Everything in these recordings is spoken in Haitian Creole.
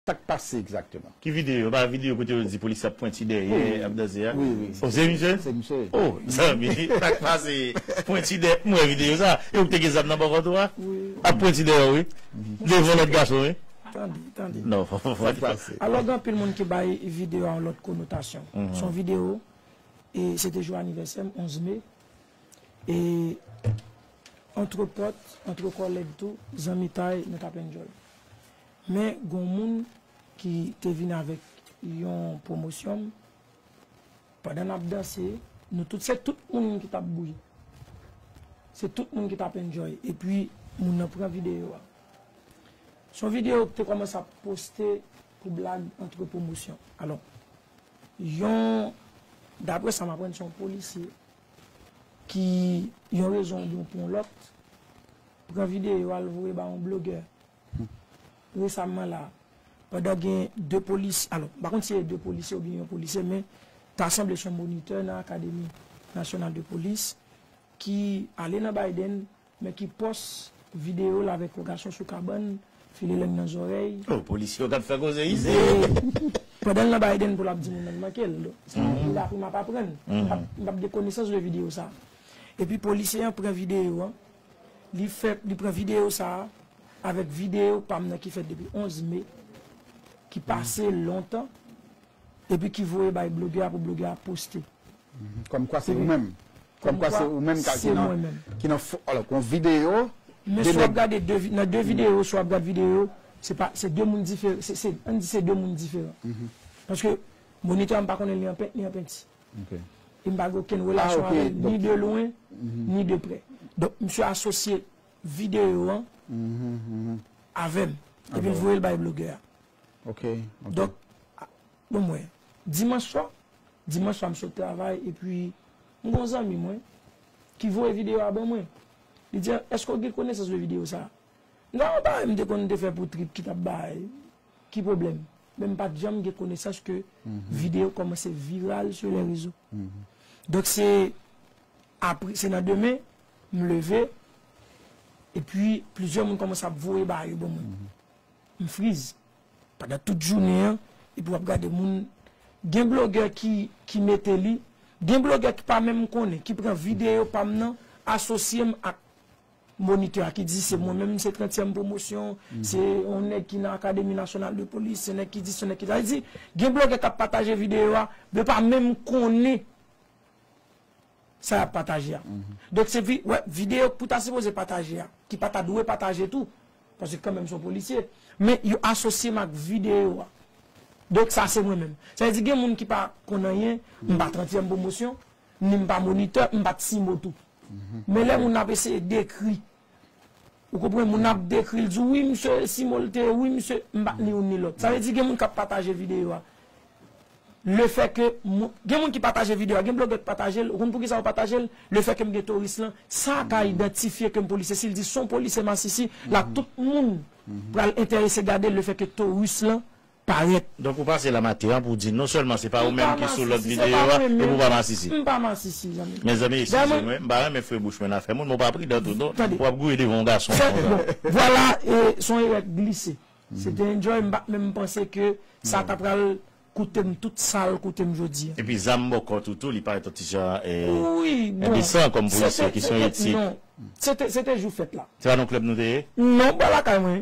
Sak pase exactement? Ki video? Epa video kote yo di polisye ap pwenti dèyè ap danse a? Wi wi. Oh se misye? Se misye. Oh zanmi sak pase pwenti dèyè m wè video sa e ou k te gen zam nan bò kòt ou a? Wi. Ap pwenti dèyè w wi. Devan lòt gason wi. Tande tande. Non fò fò. Sak pase? Alò gen anpil moun ki bay video a yon lòt konotasyon. Se yon video e se te jou anivèsè m 11 mai e antre pòt antre kòlèg tou zanmitay nou t ap enjoy. Men gon moun ki te vin avèk yon pwomosyon m pandan nap danse nou tout se tout moun ki tap bouyi se tout moun ki tap enjoy epi moun nan pran video a son video ki te kòmanse ap poste pou blag antre pwomosyon alò yon daprè sa m aprann se yon polisye ki yon rezon oubyen pou yon lòt pran video al voye ba yon blogè. Resamman la, pandan gen 2 polis, alò, m pa konn si se 2 polisye oubyen yon polisye men ta sanble se yon monitè nan Akademi Nasyonal de Polis ki ale nan Biden men ki pòs videyo l avèk yon gason sou kabann, file lenn nan zòrèy. Oh, polisye yo k ap fè koze isit! Wi! Pandan l nan Biden pou l ap di moun nan l manke l. Donk, sa a vle apre m ap aprann. M p ap gen konesans de videyo sa a. Epi polisye an pran videyo an. Li fèt, li pran videyo sa a avèk videyo pa m nan ki fèt depi 11 me, ki pase lontan, epi ki voye bay blogè a pou blogè a poste. Kòmkwa se ou menm. Kòmkwa se ou menm ki nan fo. Alò, yon videyo. Men si w ap gade nan de videyo, si w ap gade videyo yo, se pa, se de moun diferan, se, an n di se de moun diferan. Paske monitè a m pa konnen li an pent ni an penti. e m pa gen okenn relasyon avè l ni de lwen ni de prè. Donk misye asosye videyo an avè m epi l voye l bay blogè a. Donk, bon mwen, dimanch swa, dimanch swa m sot travay epi m gen yon zanmi mwen ki voye videyo a ban mwen. Li di, èske w gen konesans de videyo sa a? M di, a yon bagay m te konn te fè pou trip ki t ap bay. Ki pwoblèm? Men m pat janm gen konesans ke video kòmanse viral sou lè rezo. Donk se apre, se nan demen, m leve, epi plizyè moun kòmanse ap voye bagay yo ban mwen. M friz. Pandan tout jounen an, epi wap gade moun, gen blogè ki, ki mete li, gen blogè ki pa menm konnen, ki pran video pa m nan, asosye m ak. Monitè a ki di se mwen menm se trentyèm pwomosyon, se yon nèg ki nan akademi nasyonal de polis, se nèg ki di, se nèg ki di. Sa vle di, gen blogè k ap pataje videyo a, yo pa menm konnen sa y ap pataje a. Donk se vin wè videyo ke w ta sipoze pataje a, ki pa ta dwe pataje tou, paske kanmenm se yon polisye, men yo asosye m ak videyo a. Donk sa se mwen menm. Sa vle di gen moun ki pa konn anyen, m pa trentyèm pwomosyon. Ni m pa monitè, m pa T-Mo tou. Men lè moun ap eseye dekri, ou konprann, moun ap dekri, l di w wi msye T-Mo l te, wi msye, m pa ni youn ni lòt. Sa vle di gen moun k ap pataje videyo a, lefèke moun, gen moun ki pataje videyo a, gen blogè ki pataje l, ou konn poukisa yo pataje l, lefèke m gen touris lan, sa a ka idantifye ke m polisye. Si l di s on polisye masisi, la tout moun pral enterese gade l lefèke touris lan Parèt. Donk ou pase la maten an pou w di non sèlman se pa ou menm ki sou lòt videyo a epi ou pa masisi. M pa masisi zanmi m. Mezanmi eskize mwen, m pa renmen fwe bouch mwen nan afè moun men w pa pridan tou non, w ap gouye devan yon gason konsa. Vwala e son erè k glise. Se te enjoy m pat menm panse ke sa ta pral koute m tout sa l koute m jodi a. Epi zam bò kòt ou tou li parèt yon ti jan endesan kòm polisye ki se yon etik. Non, se te jou fèt la. Se pa nan yon klèb nou te ye? Non, m pral lakay mwen.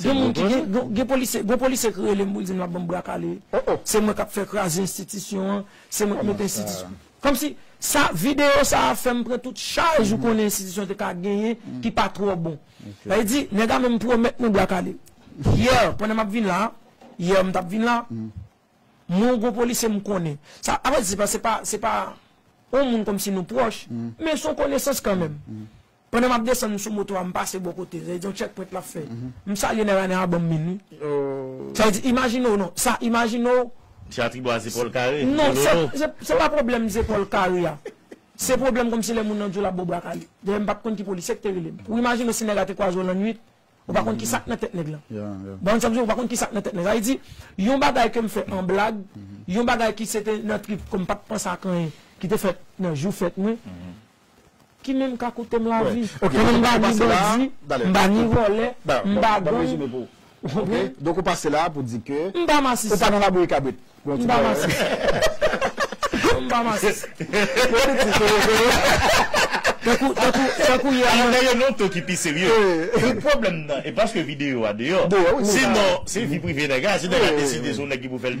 Se Gen moun ki gen, gen, gen polisye, gon polisye ki rele m pou l di m l ap ban m bra kale. Oh oh! Se mwen k ap fè kraze enstitisyon an, se mwen k mete Kòman sa? enstitisyon Kòmsi, sa, videyo sa a fè m pran tout chaj ou konnen enstitisyon te ka genyen ki pa twò bon. Ok. Sa vle di, nèg la menm pwomèt mwen bra kale. Yè, pandan m ap vin la a, yè m t ap vin la a, mwen gon polisye m konnen. Sa, a vrè di, se pa, se pa, se pa yon moun kòmsi nou pwòch, men s on konesans kanmenm. Pandan map desann sou moto a m pase bò kote, sa vle di yon check point lap fè. M salye nèg la, nèg la banm min wi. Sa vle di imajine w non, sa imajine w. Ti atribwa a zepòl kare, golono. Non, se pa pwoblèm zepòl kare a. Se pwoblèm kòmsi lè moun nan di w lap ba w bra kale. Dayè m pat konn ki polisye ki te rele m. Ou imajine w si nèg la te kwaze w lannuit, ou pa konn kisa k nan tèt nèg lan. Ou konprann sa m di w, ou pa konn kisa k nan tèt nèg lan. Sa vle di, yon bagay ke m fè an blag, yon bagay ki se te nan trip kòm m pat panse ak anyen, ki te fèt nan jou fèt mwen. Ki menm ka koute m lavi. Mwen m pa ni bandi, m pa ni vòlè, m pa gang. Donk ou pase la pou di ke ou pa nan labouyi kabrit. M pa masisi. Non m pa masisi. Politik se rete yo. Tankou, tankou, tankou yè. Alò dèyè non to ki pi serye. Tout pwoblèm nan e paske videyo a deyò. Deyò wi. Sinon se vi prive nèg la. Si nèg la deside se yon nèg ki pou fè l.